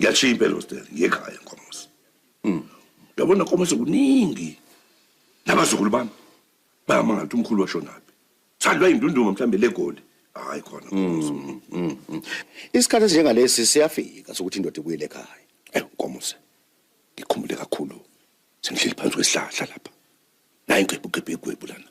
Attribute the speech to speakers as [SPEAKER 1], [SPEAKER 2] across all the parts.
[SPEAKER 1] Ngiyashiya impela hostel ngekhaya nkomosi. Mm. Yabona nkomosi kuningi. Nabazukulu bami bayamangala ukuthi umkhulu washonaphi. Sandwa indunduma mhlambe legoli. Hayi khona nkomosi. Mm, mm, mm.
[SPEAKER 2] Isikhathi esinjengalesi siyafika sokuthi indoda ibuyele ekhaya. Eh nkomosi.
[SPEAKER 1] Ngikhumbule kakhulu. Sengihleli phansi kwesihlahla lapha. Nayi ngigebhu gebhu lana.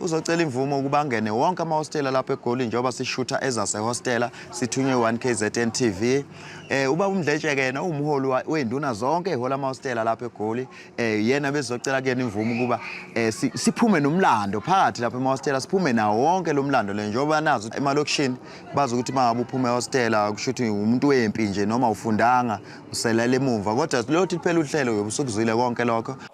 [SPEAKER 3] Uzocela imvumo ukuba angene wonke amahostela lapha eGoli njengoba sishutha ezasehostela sithunywe 1 KZN TV. Eh uba umdletsheke yena umholi weinduna zonke ehola amahostela lapha eGoli. Eh yena bezocela kuyena imvumo ukuba eh siphume nomlando phakathi lapha emahostela siphume nawo wonke lo mlando le njengoba nazo emalokishini bazi ukuthi mangabe uphume ehostela kusho ukuthi umuntu wempi nje noma ufundanga uselele emumva kodwa lothi phela uhlelo yobusuku uzwile konke lokho.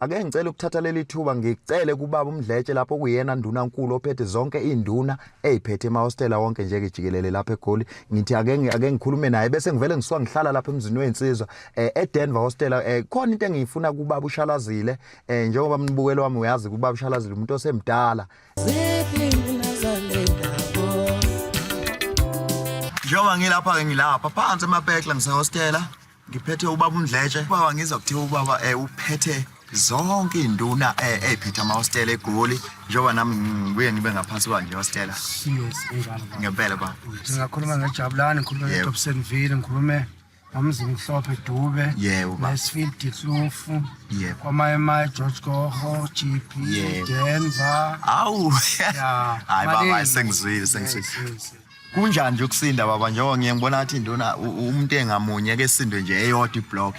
[SPEAKER 3] Ake ngicele ukuthatha leli thuba ngicele kubaba uMdletshe lapho kuyena nduna nkulu ophethe zonke izinduna eziphethe emahostela wonke nje kejikelele lapha eGoli ngithi ake ake ngikhulume naye bese ngivele ngisuka ngihlala lapha emzini wezinsizwa eh, eDenver hostela eh, khona into engiyifuna kubaba uShalazile eh, njengoba mnibukelo wami uyazi kubaba uShalazile umuntu osemdala Njengoba ngilapha ke ngilapha phansi emapekla ngisehostela ngiphethe ubaba uMdletshe baba ngizwa kuthiwa ubaba um uphethe zonke iy'nduna um eh, ey'phethe amahostela egoli njengoba nami ngibuye ngibe ngaphansi kwa nje hostela ngempela ba ngingakhuluma ngejabulani
[SPEAKER 4] ngikhulume ngetopsenville ngikhulume ngomzimhlophe dube nesfield dihlufu kwamayemaye george goho g p denver awu
[SPEAKER 3] hayi baba sengizwile sengizwile Kunjani nje ukusinda baba njengoba ngiye ngibona athi induna umuntu engamunye ke sindwe nje eyodwa iblock.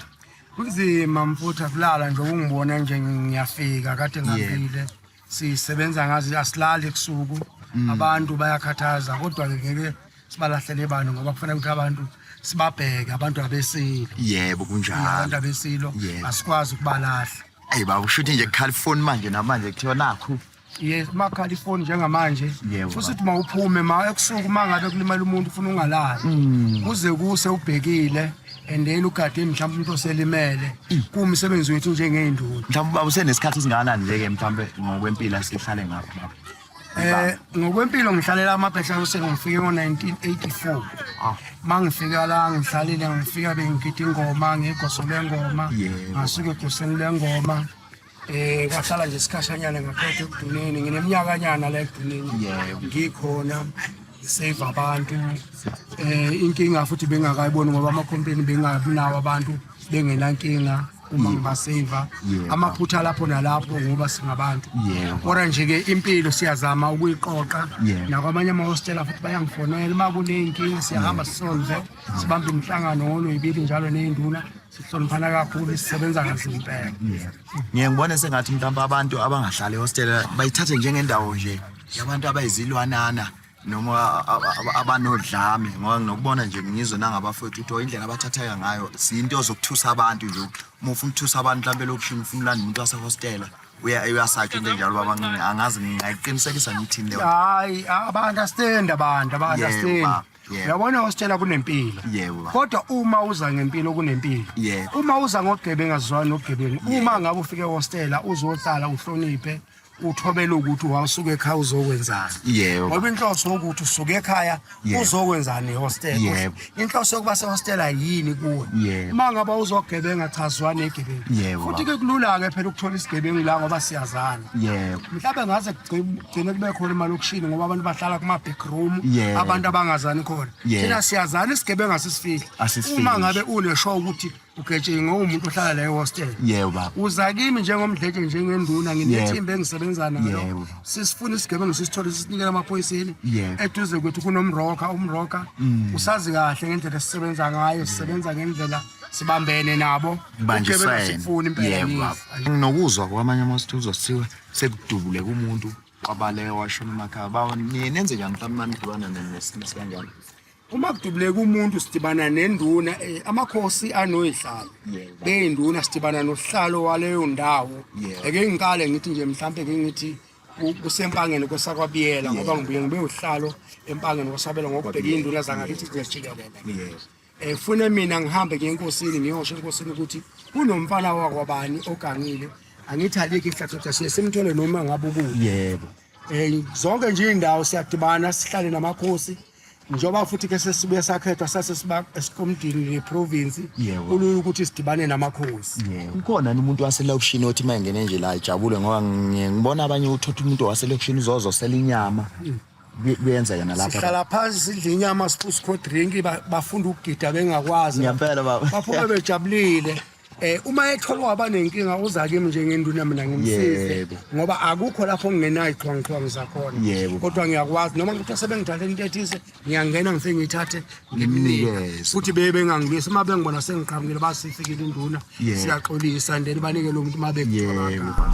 [SPEAKER 3] Kunzima
[SPEAKER 4] mfuthu akulala nje ungibona nje ngiyafika kade ngafile. Sisebenza ngazi asilali ebusuku. Mm. Abantu bayakhathaza kodwa ngeke sibalahlele abantu ngoba kufanele ukuthi abantu sibabheke abantu abesilo. Yebo kunjalo.
[SPEAKER 3] Abantu abesilo
[SPEAKER 4] asikwazi ukubalahla. Hey baba ushuthi
[SPEAKER 3] nje kukhala ifoni manje namanje kuthiwa nakho Yes, makhala
[SPEAKER 4] ifoni njengamanje. Yebo. Futhi uthi mawuphume ma ebusuku uma ngabe kulimala umuntu ufuna ungalali. Mm. Kuze kuse ubhekile and then ugade mhlawumbe umuntu oselimele. Kuwumsebenzi wethu njengey'nduna. Mhlawumbe ubaba usenesikhathi
[SPEAKER 3] esingakanani nje-ke mhlawumbe ngokwempilo asihlale ngakho baba. Eh
[SPEAKER 4] ngokwempilo ngihlalela amabhesha ose ngifike ngo-1984. Ah. Uma ngifika la ngihlalile ngifika bengigida ingoma ngigosole ngoma. Yebo. Ngasuke egoseni lengoma. Eh kwahlala nje isikhashanyana ngaphethe ekuduneni ngineminyakanyana la ekuduneni ngikhona save abantu eh inkinga futhi bengakayiboni ngoba ama company bengabi nawo abantu bengenankinga uma ngibaseva amaphutha lapho nalapho ngoba singabantu kodwa nje ke impilo siyazama ukuyiqoqa nakwamanye amahostela futhi bayangifonela uma kuneyinkinga siyahamba sisolve sibambe imihlangano ngolweyibili njalo neyinduna sihloniphana kakhulu sisebenza kanzima impela ngiye ngibone
[SPEAKER 3] sengathi mhlawumbe abantu abangahlali ehostela bayithathe njengendawo nje yabantu abayizilwanana noma abanodlame ngoba nginokubona nje ngizwe nangabafowethu ukuthi indlela abathatheka ngayo siyinto zokuthusa abantu nje uma ufuna ukuthusa abantu mhlawumbe elokishini ufuna ulanda umuntu wasehostela uyasakha into enjalo babancinci angazi ngingayiqinisekisa ngithini leyo hayi
[SPEAKER 4] aba-understand abantu aba-understand Yebo. uyabona wasitshela kunempilo Yebo, baba. kodwa uma uza ngempilo kunempilo Yebo. uma uza ngogebengu azizwani nogebengu uma ngabe ufike hostela uzohlala uhloniphe uthobele ukuthi wawusuke ekhaya uzokwenzani Yebo. ngoba inhloso
[SPEAKER 3] yokuthi
[SPEAKER 4] usuke ekhaya Yebo. uzokwenzani ehostela Yebo. inhloso
[SPEAKER 3] yokuba sehostela
[SPEAKER 4] yini kuwe Yebo. uma ngabe
[SPEAKER 3] uzogebenga
[SPEAKER 4] chazwa negebengu Yebo, futhi ke kulula-ke
[SPEAKER 3] phela
[SPEAKER 4] ukuthola isigebengu la ngoba siyazana Yebo. mhlawumbe
[SPEAKER 3] ngaze kugcim
[SPEAKER 4] gcine kube khona emalokishini ngoba abantu bahlala kuma-back room yeah. abantu abangazani
[SPEAKER 3] khona
[SPEAKER 4] yeah. thina siyazani
[SPEAKER 3] isigebengu
[SPEAKER 4] asisifihli uma ngabe
[SPEAKER 3] unesho
[SPEAKER 4] ukuthi ugetshe ngowumuntu ohlala la ehostel yeba uza
[SPEAKER 3] kimi njengomdletshe
[SPEAKER 4] njengenduna nginethimba engisebenza nalo sisifuna
[SPEAKER 3] isigebengu
[SPEAKER 4] sisithole sisinikela amaphoyiseni eduze kwethu
[SPEAKER 3] kunomroka
[SPEAKER 4] umroka mm. usazi kahle ngendlela esisebenza ngayo sisebenza ngendlela sibambene nabo ugebengu sikufuni impela
[SPEAKER 3] nokuzwa kwamanye amasithuzo sithiwe sekudubuleka umuntu kwabaleka washona emakhaya bawo niye nenze njani mhlawumbe manidibana nesimo sikanjani uma kudubuleka
[SPEAKER 4] umuntu sidibana nenduna eh, amakhosi anoyihlalo beyinduna
[SPEAKER 3] sidibana
[SPEAKER 4] nohlalo waleyo ndawo eke ngikale
[SPEAKER 3] ngithi nje
[SPEAKER 4] mhlawumbe ke ngithi kusempangeni kwesakwabiyela ngoba ngibuye ngibe uhlalo empangeni kwasabela ngokubheka iy'nduna zangakithi nje jikelele efune
[SPEAKER 3] eh, mina ngihambe
[SPEAKER 4] ngiye enkosini ngiyosho enkosini ukuthi kunomfana wakwabani ogangile angithi alike ihlathotha siye simthole noma ngabe ukubi yebo um
[SPEAKER 3] zonke
[SPEAKER 4] nje iy'ndawo siyadibana sihlale namakhosi njengoba futhi ke sesibuye sakhethwa sasesiba esikomdini neprovinsi kulula ukuthi
[SPEAKER 3] sidibane
[SPEAKER 4] namakhosi ukhona ni umuntu
[SPEAKER 3] waselokishini othi uma engene nje la ejabule ngoba ngibona abanye uthotha umuntu waselokishini uzozosela inyama mm. kuyenzeka nalapha sihlala phansi sidla
[SPEAKER 4] inyama siphuse cold drink bafunda ukugida bengakwazi ngempela baba baphume
[SPEAKER 3] bejabulile
[SPEAKER 4] eh uma ethola waba nenkinga uza kimi njengenduna mina ngimsize ngoba akukho
[SPEAKER 3] lapho
[SPEAKER 4] ngingenayo iqhwangqhwangu zakhona kodwa ngiyakwazi
[SPEAKER 3] noma
[SPEAKER 4] ukuthi sebengithathe into ethize ngiyangena ngifike ngithathe ngimnike
[SPEAKER 3] futhi bebe bengangibisi
[SPEAKER 4] uma bengibona sengiqhamukile basifikile induna siyaxolisa
[SPEAKER 3] ndeni
[SPEAKER 4] banike lo muntu uma bekuthola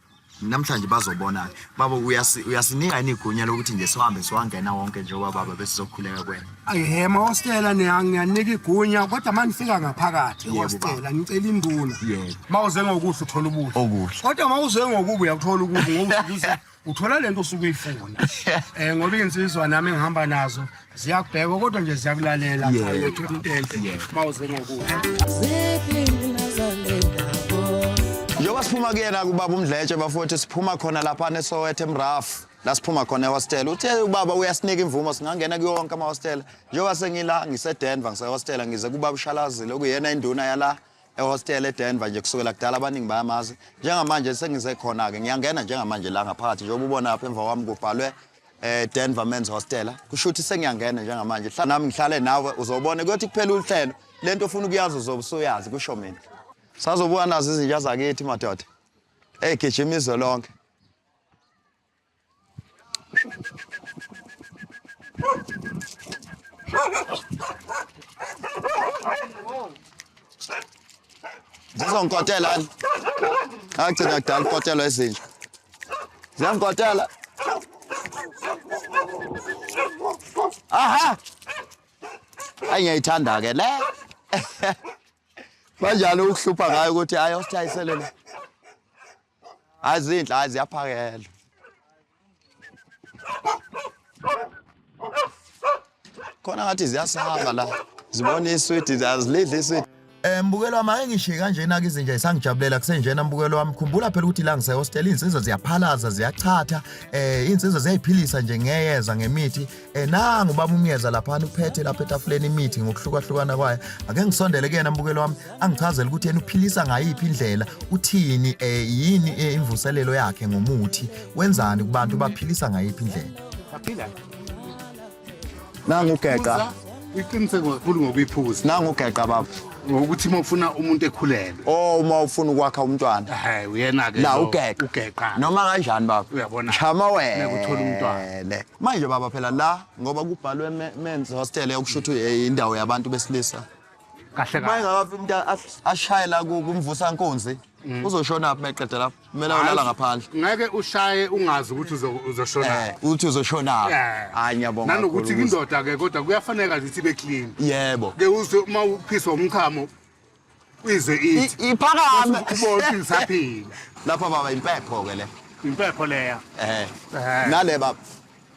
[SPEAKER 3] namhlanje bazobona baba uyasinika yini igunya lokuthi nje sihambe siwangena wonke njengoba baba bese sokhuleka kwena ayihe mahostela
[SPEAKER 4] ngiyanika igunya kodwa uma ngifika ngaphakathi ehostela ngicela
[SPEAKER 3] induna
[SPEAKER 4] uma uze
[SPEAKER 3] ngokuhle uthola
[SPEAKER 4] ubuhle okuhle kodwa uma uze
[SPEAKER 3] ngokubi
[SPEAKER 4] uyakuthola ukubi ngokuthi uthola lento osuke uyifuna eh ngoba insizwa nami engihamba nazo ziyakubheka kodwa nje ziyakulalela cha
[SPEAKER 3] Yeah.
[SPEAKER 4] yethu into enhle Yeah. uma
[SPEAKER 2] uze ngokuya njengoba siphuma kuyena kubaba umdletshe bafowethu siphuma khona lapha nesowethe emrafu la siphuma khona ehostela uthe ubaba uyasinika imvumo singangena kuyo wonke amahostela njengoba sengila ngisedenver ngisehostela ngize kubaba ushalazile okuyena induna yala ehostela edenver nje kusukela kudala abaningi bayamazi njengamanje sengize khona-ke ngiyangena njengamanje la ngaphakathi njengoba ubona lapha emva kwami kubhalwe eDenver eh, Men's Hostela kusho ukuthi sengiyangena njengamanje hla nami ngihlale nawe uzobona kuyothi kuphela uhlelo lento ofuna ukuyazi uzobe usuyazi kusho mina sazobuka nazo izinja zakithi madoda hey gijima izwe lonke Zizongikotela yini? Agcina kudala ukukotela ezinja. Ziyangikotela. Aha! Ayi ngiyayithanda ke le. Banjalo ukuhlupha ngayo ukuthi ayo sithayisele le. hayi zinhle hayi ziyaphakela khona ngathi ziyasihamba la zibona iswidi azilidli iswidi Eh mbukelo wami ake
[SPEAKER 3] ngishiye kanjena ke izinja isangijabulela kusenjena mbukelo wami khumbula phela ukuthi la ngise hostel insizwa ziyaphalaza ziyachatha eh insizwa ziyayiphilisa nje ngeyeza ngemithi Eh nangu baba umyeza lapha uphethe lapha etafuleni imithi ngokuhlukahlukana kwayo. Ake ngisondele kuyena mbukelo wami angichazele ukuthi yena uphilisa ngayiphi indlela, uthini eh yini eh, imvuselelo yakhe ngomuthi, wenzani kubantu baphilisa ngayiphi indlela. Baphila.
[SPEAKER 2] Nangu geqa. Uyiqiniseke kakhulu
[SPEAKER 5] ngokuyiphuza. Nangu geqa baba.
[SPEAKER 2] ukuthi uma ufuna
[SPEAKER 5] umuntu ekhulelwe oh uma ufuna
[SPEAKER 2] ukwakha umntwana hayi uyena ke la
[SPEAKER 5] ugeqa ugeqa
[SPEAKER 2] noma kanjani
[SPEAKER 5] baba
[SPEAKER 2] uyabona chama wena
[SPEAKER 5] ukuthola
[SPEAKER 2] umntwana
[SPEAKER 5] manje baba phela
[SPEAKER 2] la ngoba kubhalwe men's hostel yokusho ukuthi eh, indawo yabantu besilisa
[SPEAKER 5] kahle kahle
[SPEAKER 2] mayengakafi umuntu ashayela
[SPEAKER 5] kumvusa
[SPEAKER 2] nkunzi mm. uzoshona phi meqede lapho kumele ulala ngaphandle ngeke ushaye
[SPEAKER 5] ungazi ukuthi uzoshona eh, uthi uzoshona
[SPEAKER 2] eh. hayi ngiyabonga nanokuthi indoda ke
[SPEAKER 5] kodwa kuyafaneka ukuthi ibe clean yebo ke uzwe
[SPEAKER 2] uma
[SPEAKER 5] uphiswa umchamo uyizwe ithi iphakame ubona
[SPEAKER 2] isaphila
[SPEAKER 5] lapha baba
[SPEAKER 2] impepho ke le impepho leya
[SPEAKER 5] eh, eh. nale
[SPEAKER 2] baba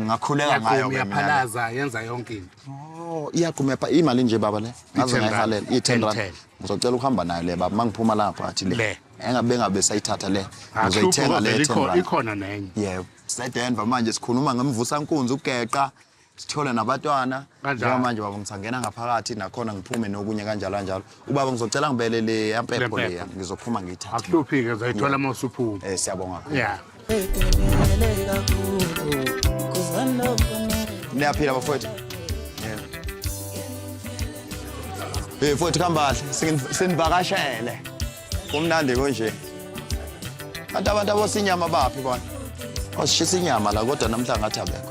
[SPEAKER 5] Ngakhuleka
[SPEAKER 2] ngayo ke mina. Yaphalaza yenza
[SPEAKER 5] yonke into. Oh, iyagquma pha
[SPEAKER 2] imali nje baba le. Ngaze ngayihalela i10 rand. Ngizocela ukuhamba nayo le baba mangiphuma lapha athi le. Engabe ngabe sayithatha le. Ah, Ngizoyithenga le 10 rand. Ikhona nenye. Yebo.
[SPEAKER 5] Sedenva
[SPEAKER 2] manje sikhuluma ngemvusa nkunzi ugeqa. sithole nabatwana njengamanje baba ngisangena ngaphakathi nakhona ngiphume nokunye kanjalo kanjalo Ubaba ngizocela ngibele le yampepho Le leya mpepho. ngizophuma ngiyithathe. akuhluphike zayithola uma
[SPEAKER 5] usuphuma Eh siyabonga. ya
[SPEAKER 2] Niyaphila bafowethu. Yeah. Eh mfowethu kambahle singin- sinivakashele. Kumnandi konje. Kanti abantu abosinyama baphi bona? Osishisa inyama la kodwa namhla ngathi abekho.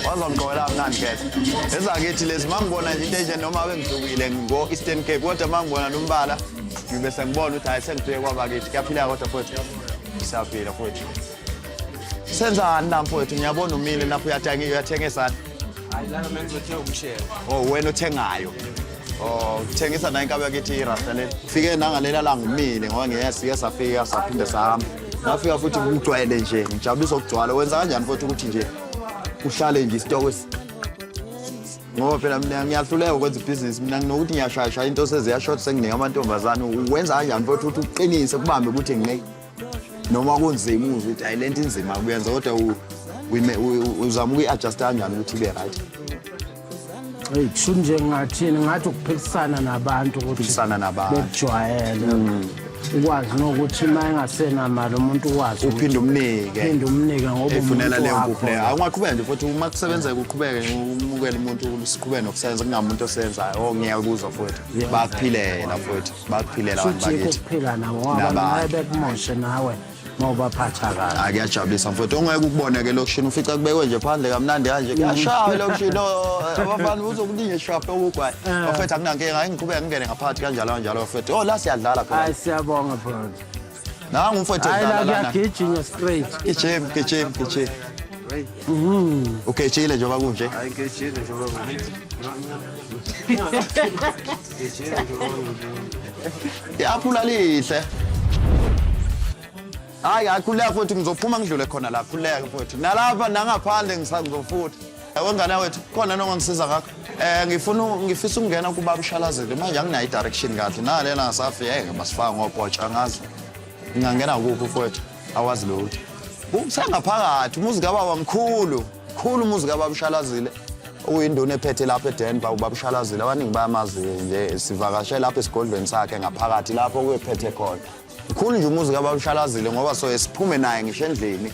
[SPEAKER 2] wazongiqola mnandi khetha ezakithi lezi uma ngibona nje into enje noma abe ngidukile ngo-eastern cape kodwa uma ngibona nombala ngibe sengibona ukuthi hhayi sengifike kwabakithi kuyaphila kodwa futhi siyaphila futhi Senzani la mfowethu ngiyabona umile lapho uyathenga uyathengisa. Hayi la
[SPEAKER 6] mina ngizothenga umshelo. Oh wena uthengayo.
[SPEAKER 2] Oh uthengisa nayo inkabi yakithi irasta le. Fike nangalela la ngimile ngoba ngeke sike safika saphinde sahamba. Ngafika futhi ngijwayele nje ngijabulisa ukugcwala wenza kanjani futhi ukuthi nje uhlale nje isitoko ngoba phela mina ngiyahluleka ukwenza ibhizinisi mina nginokuthi ngiyashayashaya into seziyashort senginike amantombazane wenza kanjani futhi ukuthi uqinise kubambe ukuthi ngine noma kunzima uzwe ukuthi ayi le nto inzima kuyenza kodwa uzama ukuyi-adjusta kanjani ukuthi ibe right eyi
[SPEAKER 4] kusho nje ngingathini ngathi ukuphikisana nabantu ukuthiphikisana nabantu bekujwayele mm. ukwazi nokuthi uma engasenamali umuntu ukwazi uphinde umnike
[SPEAKER 2] phinde umnike ngoba efunela
[SPEAKER 4] leyo nkuphu leyo
[SPEAKER 2] awungaqhubeka nje futhi uma kusebenzeka uqhubeke umukele umuntu siqhubeke nokusebenza kungamuntu osenzayo o oh, ngiyakuzwa futhi bakuphilela futhi bakuphilela abantu Futhi yikho bakithi ukuphila nawo ngoba Nabanye.
[SPEAKER 4] nawe bekumoshe nawe ngoba phatha kabi. hayi kuyajabulisa mfowethu ongeke
[SPEAKER 2] ukubone ke lokishini ufica kubekwe nje phandle kamnandi kanje kuyashaya lokishini oh, abafana uzokuningi shaphe ukugwayi Eh. bafethu akunankinga ngiqhubeka ngingene ngaphathi kanjalo kanjalo bafethu oh la siyadlala phela Hayi siyabonga brother.
[SPEAKER 4] Nangu umfowethu
[SPEAKER 2] Hayi edlala la lana. kuyagijinywa straight.
[SPEAKER 4] Gijim, gijim,
[SPEAKER 2] gijim. Ugejile njengoba kunje. I-aphula lihle. Hayi, hayi khuleka futhi ngizophuma ngidlule khona la. Khuleka futhi. Nalapha nangaphandle ngisangizofutha. wengane wethu khona nongangisiza ngakho eh ngifuna ngifisa ukungena kuba ushalazele manje anginayo i-direction kahle nalena ngasafi yeke masifaka ngopotsha angazi ngingangena kuphi mfowethu awazi lutho kusengaphakathi umuzi kababa mkhulu mkhulu umuzi kababa ushalazile uyinduna ephethe lapha edenver ubaba ushalazile abaningi bayamazi nje sivakashe lapha esigodlweni sakhe ngaphakathi lapho kuyephethe khona mkhulu nje umuzi kababa ushalazile ngoba soye siphume naye ngisho endlini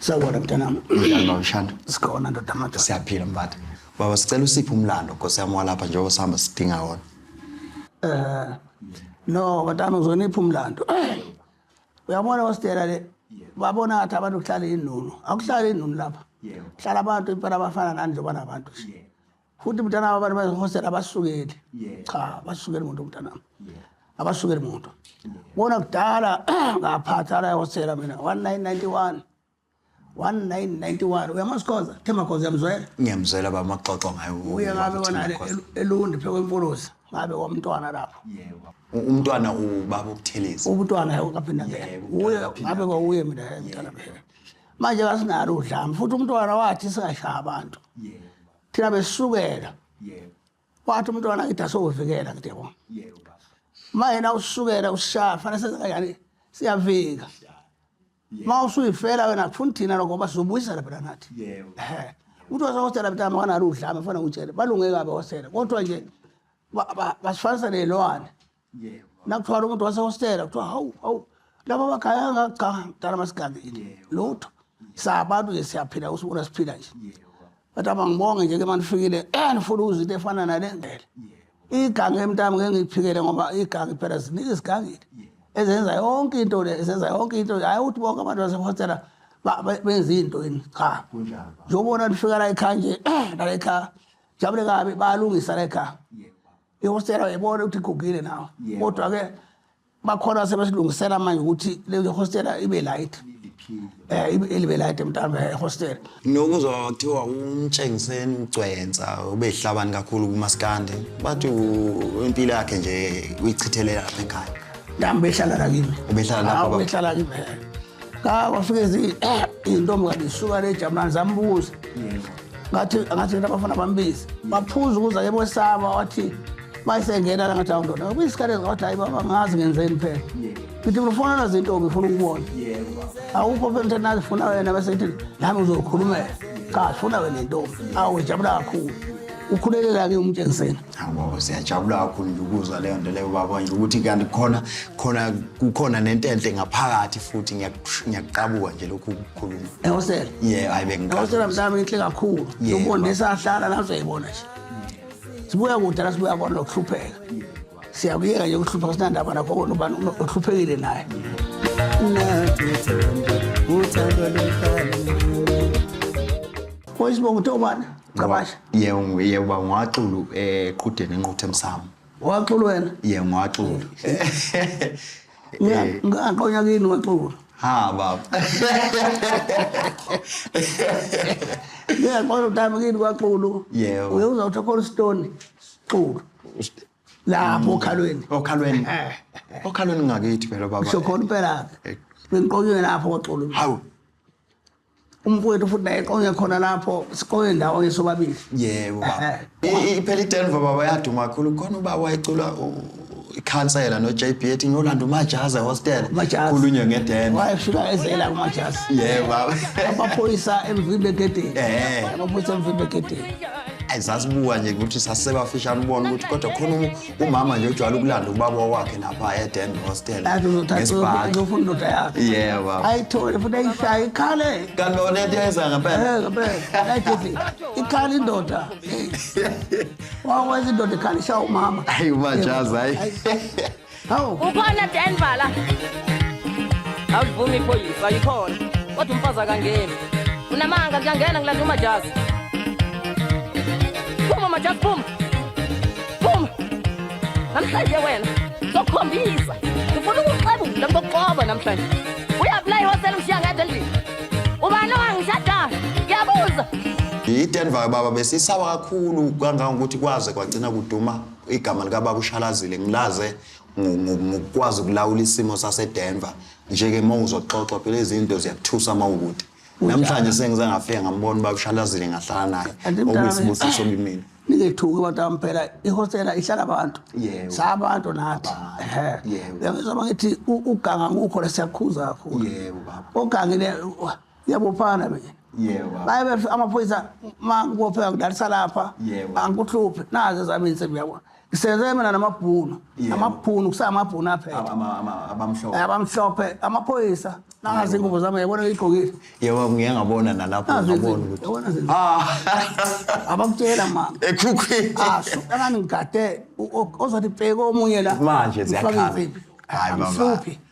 [SPEAKER 2] Sawubona mntanami.
[SPEAKER 4] Njani baba Shanda?
[SPEAKER 2] Sikhona ndoda manje.
[SPEAKER 4] Siyaphila mbatha.
[SPEAKER 2] Baba sicela usiphe umlando Nkosi yami walapha njengoba sihamba sidinga wona. Eh no
[SPEAKER 4] batana uzonipha umlando. Uyabona wasitela le babona ngathi abantu kuhlala inunu. Akuhlali inunu lapha. Kuhlala abantu impela abafana nani njengoba nabantu. futhi mntanami abantu bazihosela abasukeli cha abasukeli muntu mntanami abasukeli muntu bona kudala ngaphatha la ehosela mina 1991 1991 uyamazi khoza themba khoza uyamzwela ngiyamzwela baba maxoxo
[SPEAKER 2] ngayo uye ngabe wona
[SPEAKER 4] elundi phe kwempuluza ngabe kwamntwana lapho umntwana
[SPEAKER 2] ubaba ukutheleza umntwana kaphinde
[SPEAKER 4] ngeke uye ngabe kwawuye mina mntwana phela manje kasinalo udlame futhi umntwana wathi singashaya abantu thina besukela yebo wathi umntwana ngithi asokuvikela ngithi yabo yebo ma yena usukela ushaya fanele senze kanjani siyavika ma usuyifela wena kufuna thina lokho ngoba sizobuyisela phela nathi yebo umuntu wasehostela mntama kanalo udlame fana ngitshele balunge kabi hostela kodwa nje basifanisa ney'lwane nakuthwala umuntu wasehostela kuthiwa hawu hawu laba bagaya kangaka cha mntana masigangile lutho sabantu nje siyaphila usibona siphila nje but abangibonge nje ke manifikile enifuna ukuza into efana nale ngele igange emntami ngeke ngiyiphikele ngoba igange phela ziningi izigangile ezenza yonke into le ezenza yonke into hayi ukuthi bonke abantu basehostela benza into yini cha njengobona lifika la ekhaya nje nala ekhaya jabule kabi bayalungisa la ekhaya ihostela uyayibona ukuthi igugile nawo kodwa-ke bakhona sebesilungisela manje ukuthi leyo hostela ibe light eh ilibe light mntambe ehostela nokuzwa kuthiwa
[SPEAKER 2] umtshengiseni ugcwensa ubehlabani kakhulu kumaskandi bathi impilo yakhe nje uyichithelela lapha ekhaya nami behlala la
[SPEAKER 4] kimi ubehlala lapha baba ubehlala kimi ka wafike zi eh, intombi kanti isuka le jamani zambuza ngathi ngathi nto abafana bambizi maphuza ukuza ke bosaba wathi mayisengena la ngathi awundoda kuyisikhathi ezingawathi hayi baba ngazi ngenzeni phela ngithi ngifuna nazi intombi ifuna ukubona awukho phela into nazifuna wena bese ngithi nami uzokhulumela cha sifuna wena intombi awu ngijabula kakhulu ukhulelela-ke umtshengiseni Awubaba siyajabula
[SPEAKER 2] kakhulu nje ukuzwa leyo nto leyo baba nje ukuthi kanti khona khona kukhona nentenhle ngaphakathi futhi ngiyakush- ngiyakuqabuka nje lokhu kukhuluma. Ehosela. Yeah,
[SPEAKER 4] hayi Ehosela
[SPEAKER 2] bengiqabuka. mntana inhle
[SPEAKER 4] kakhulu. Yeah, Ubone baba. sahlala la uzoyibona nje. Sibuya kude la sibuya kona ukuhlupheka. Siyakuyeka nje ukuhlupheka sinandaba nakho kona ubani uno- uhluphekile naye. Uyisibongo uthe ubani? Gcabasha. Yebo yebo baba
[SPEAKER 2] ngwaxulu eqhudeni eh, enquthe emsamo. Waxulu wena?
[SPEAKER 4] Yebo ngwaxulu. Eh. Ngaqonya kini waxulu. Ha baba. Yeah, kodwa utama kini kwaxulu. Yebo. Uye uzawutha khona stone. Xulu. Lapho okhalweni. Okhalweni.
[SPEAKER 2] Eh. Okhalweni ngakithi phela baba. Sho khona impela.
[SPEAKER 4] Bengiqonywe lapho kwaxulu. Hawu. umfowethu futhi naye eqonye khona lapho siqonye ndawonye sobabili yebo baba
[SPEAKER 2] iphela idenver baba yaduma kakhulu khona ubaba wayecula ikhansela no JB ethi ngiyolanda uMajaza hostel khulunywe ngedeni wayefika ezela
[SPEAKER 4] kuMajaza
[SPEAKER 2] yeah baba amaphoyisa
[SPEAKER 4] emvimbe gedeni eh amaphoyisa emvimbe gedeni ayizazibuka
[SPEAKER 2] nje ukuthi sasebafishana ubona ukuthi kodwa khona umama nje ujwayele ukulanda ubaba wakhe lapha eden hostel ngesibhakizofuna
[SPEAKER 4] indoda yakhe yebo ayithole
[SPEAKER 2] futhi ayishaye
[SPEAKER 4] ikhale kanti lona into yenza
[SPEAKER 2] ngempela eh, ngempela ayithi
[SPEAKER 4] ikhale indoda wakwenza indoda ikhale ishaya umama ayi umajazi
[SPEAKER 2] hayi hawu
[SPEAKER 4] ukhona denvala
[SPEAKER 7] awuvumi iphoyisa ayikhona kodwa umfazi akangeni unamanga kuyangena ngilanda umajazi phuma majazi phuma Phuma. Namhlanje wena zokhombisa. Ngifuna ukuxebula ngokuqoba namhlanje. Uyaplay hostel ushiya ngedwa endlini. Ubani owangishada? Ngiyabuza. IDenver
[SPEAKER 2] baba besisaba kakhulu kangangokuthi kwaze kwagcina kuduma igama likababa ushalazile ngilaze ngokwazi ukulawula isimo saseDenver njeke uma uzoxoxa phela izinto ziyakuthusa uma ukude namhlanje sengize ngafika ngambona uba ushalazile ngahlala naye Kanti mntana okuyisibusiso mina- kimina ningethuki abantu bami
[SPEAKER 4] phela ihostela ihlala abantu Yebo. sabantu nathi Abantu. Ehhe. Yebo. uyangizwa uma ngithi u- uganga ngukho la siyakhuza kakhulu Yebo, baba. ogangile yabophana mina Yebo, baba. baye bef- amaphoyisa ma ngibopheka ngidalisa lapha Yebo. angikuhluphi nazi ezami insimbi yabona Senze mina namabhunu. Yebo. Amabhunu kusamabhunu aphethe. Ama- ama- ama- abamhlophe Abamhlophe amaphoyisa nangazi ingubo zami yabona igqokile. yebo ngiye ngabona
[SPEAKER 2] nalapho Nazi ngabona izinto, ukuthi yabona izinto. ah
[SPEAKER 4] Abakutshela mama. ekhukhwini Asho
[SPEAKER 2] engani
[SPEAKER 4] ngigade u- o- ozothi bheke omunye la. manje Ufake ziyakhala imfiphi.
[SPEAKER 2] hayi baba Amhluphi.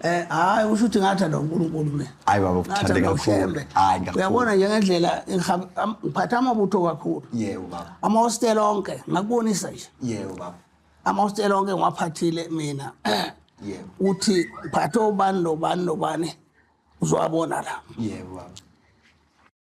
[SPEAKER 2] Eh
[SPEAKER 4] hayi usho ukuthi ngathanda uNkulunkulu mina. Hayi baba ukuthande kakhulu.
[SPEAKER 2] Hayi kakhulu. Uyabona nje ngendlela
[SPEAKER 4] ngiphatha amabutho kakhulu. Yebo baba. Ama
[SPEAKER 2] hostel onke
[SPEAKER 4] ngakubonisa nje. Yebo baba.
[SPEAKER 2] Ama hostel onke
[SPEAKER 4] ngwaphathile mina. Yebo.
[SPEAKER 2] Uthi
[SPEAKER 4] phatha obani nobani nobani uzowabona la. Yebo
[SPEAKER 2] baba.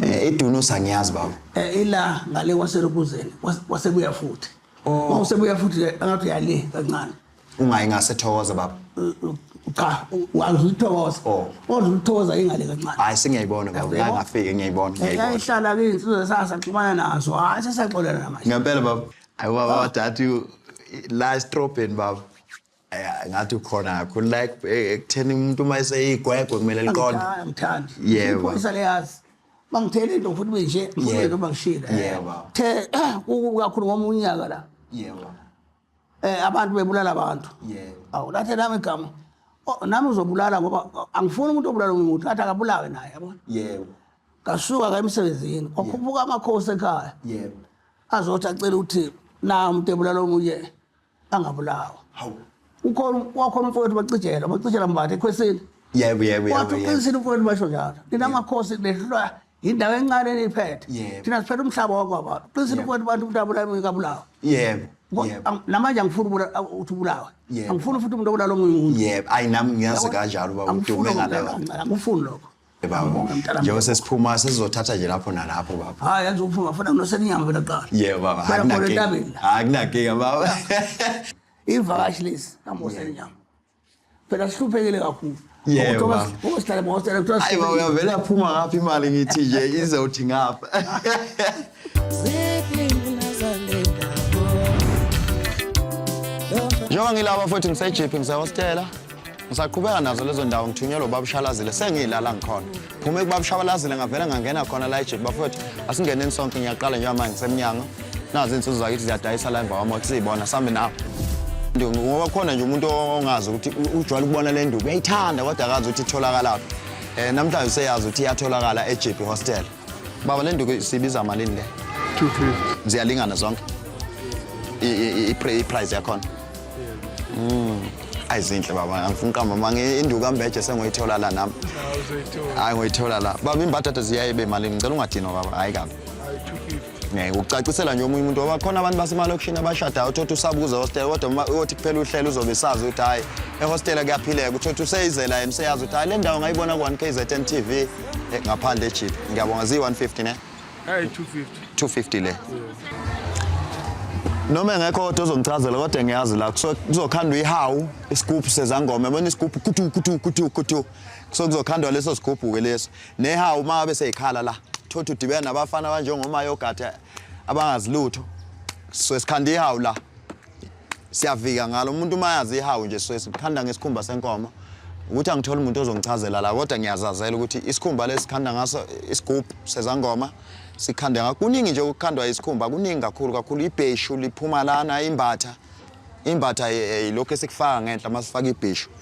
[SPEAKER 2] Eh, idunusa ngiyazi baba eh ila ngale
[SPEAKER 4] kwaserubuzeni wasebuya futhi oh. uma usebuya futhi angathi uyale kancane ungayi ngase
[SPEAKER 2] thokoza baba eh, eh, cha
[SPEAKER 4] wazi uthokoza oh. wazi uthokoza ingale kancane hayi singiyayibona baba
[SPEAKER 2] ngeke ngafike ngiyayibona eh, ngiyayibona ihlala ke insizwe
[SPEAKER 4] sasaxhumana nazo hayi sasaxolana manje ngempela baba ayi
[SPEAKER 2] baba wadadi la strophen baba Eh, ngathi ukhona kakhulu like eh, ekutheni umuntu uma eseyigwegwe kumele liqonde angithandi Yebo.
[SPEAKER 4] iphoyisa
[SPEAKER 2] leyazi
[SPEAKER 4] bangithele into futhi benje Yebo. ngiyeke bangishile Yebo. the eh,
[SPEAKER 2] kuku
[SPEAKER 4] kakhulu ngomunye unyaka la yebo
[SPEAKER 2] eh
[SPEAKER 4] abantu bebulala abantu yebo awu lathe
[SPEAKER 2] nami igama
[SPEAKER 4] Oh, nami uzobulala ngoba oh, angifuni umuntu obulala omunye umuntu athi akabulawe naye yabona yebo
[SPEAKER 2] ngasuka ka
[SPEAKER 4] emsebenzini kwakhuphuka amakhosi ekhaya yebo
[SPEAKER 2] azothi acela
[SPEAKER 4] ukuthi na umuntu ebulala omunye angabulawa hawu
[SPEAKER 2] ukhona wakhona
[SPEAKER 4] umfowethu bacijela bacijela mbathe ekhwesini yebo yebo yebo wathi
[SPEAKER 2] uqinisile
[SPEAKER 4] umfowethu basho njalo nina makhosi nehlulwa yindawo encane eniyiphethe thina siphethe umhlaba
[SPEAKER 2] wakwabantu
[SPEAKER 4] uqinisile umfowethu bantu umuntu abulawa ingabulawa yebo
[SPEAKER 2] namanje angifuni
[SPEAKER 4] ukuthi ubulawe angifuni futhi umuntu
[SPEAKER 2] obulala omunye
[SPEAKER 4] umuntu yebo ayi nami ngiyazi
[SPEAKER 2] kanjalo baba udume ngaleyo angifuni lokho
[SPEAKER 4] Baba, njengoba
[SPEAKER 2] sesiphuma sesizothatha nje lapho nalapho baba. Hayi yazi uphuma funa kunosela
[SPEAKER 4] inyama phela kuqala. Yebo baba,
[SPEAKER 2] akunankinga.
[SPEAKER 4] Akunankinga baba. Ivakashi lesi kamosela inyama. Phela sihluphekile kakhulu. Yebo baba.
[SPEAKER 2] Usihlale mosela kuthiwa.
[SPEAKER 4] Hayi baba uyavela
[SPEAKER 2] phuma ngapha imali ngithi nje izothi ngapha. njengoba ngilaba futhi ngisejiphi ngisehostela ngisaqhubeka nazo lezo ndawo ngithunyelwa ubabushalazile sengiyilala ngikhona phuma ekubabushabalazile ngavele ngangena khona la ejiphi bafowethu asingeneni sonke ngiyaqala njengoba manje ngisemnyango nazi iy'nsuzo zakithi ziyadayisa la emva kwama kusiyibona sambe nawo ngoba khona nje umuntu ongazi ukuthi ujwayele ukubona le nduku uyayithanda kodwa akazi ukuthi itholakalaphi um eh, namhlanje useyazi ukuthi iyatholakala ejiphi hostela Baba le nduku sibiza malini le? 250.
[SPEAKER 5] Ziyalingana
[SPEAKER 2] zonke. I price yakhona. Mm. Ayizinhle baba, angifuni qamba mama induku ambeje sengoyithola la nami. Hayi ngoyithola la. Baba imbadada ziyaye be malini? Ngicela ungadinwa baba. Hayi kabi. ngeke ukucacisela nje omunye umuntu ngoba khona abantu basemalokishini abashadayo uthothi usabuza hostel kodwa uma uyothi kuphela uhlelo uzobe sazi ukuthi hhayi ehostela kuyaphileka uthothi useyizela yena useyazi ukuthi hhayi le ndawo ngayibona ku-one k z n t v eh, ngaphandle ejiphi ngiyabonga ziyi-one fifty ne Hey 250. 250
[SPEAKER 5] le.
[SPEAKER 2] Noma engekho kodwa ozongichazela kodwa ngiyazi la kuzokhandwa ihawu isigubhu sezangoma yabona isigubhu kutu kutu kutu kutu so kuzokhandwa leso sigubhu ke leso Neha uma abe seyikhala la thothi udibena nabafana abanjengomayogade abangazilutho swe sikhanda ihawu la siyavika ngalo umuntu uma yazi ihawu nje swe sikhanda ngesikhumba senkomo ukuthi angitholi umuntu ozongichazela la kodwa ngiyazazela ukuthi isikhumba lesikhanda ngaso isigubhu sezangoma sikhanda ngakho kuningi nje ukukhandwa isikhumba kuningi kakhulu kakhulu ibheshu liphuma lana imbatha imbatha yilokho esikufaka ngenhla masifaka ibheshu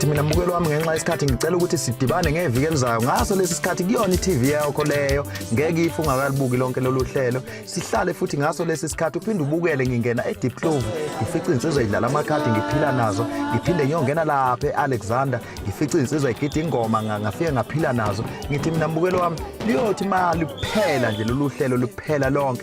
[SPEAKER 2] ngithi mina mbukelo wami ngenxa yesikhathi ngicela ukuthi sidibane ngeviki elizayo ngaso lesi sikhathi kuyona i-tv yakho leyo ngeke ife ungakalibuki lonke lolu hlelo sihlale futhi ngaso lesi sikhathi uphinde ubukele ngingena e-deep clove ngifice insizwa idlala amakhadi ngiphila nazo ngiphinde ngiyongena lapha e-alexander ngifice insizwa igida ingoma ngafike ngaphila nazo ngithi mina mbukelo wami liyothi ma liphela nje lolu hlelo liphela lonke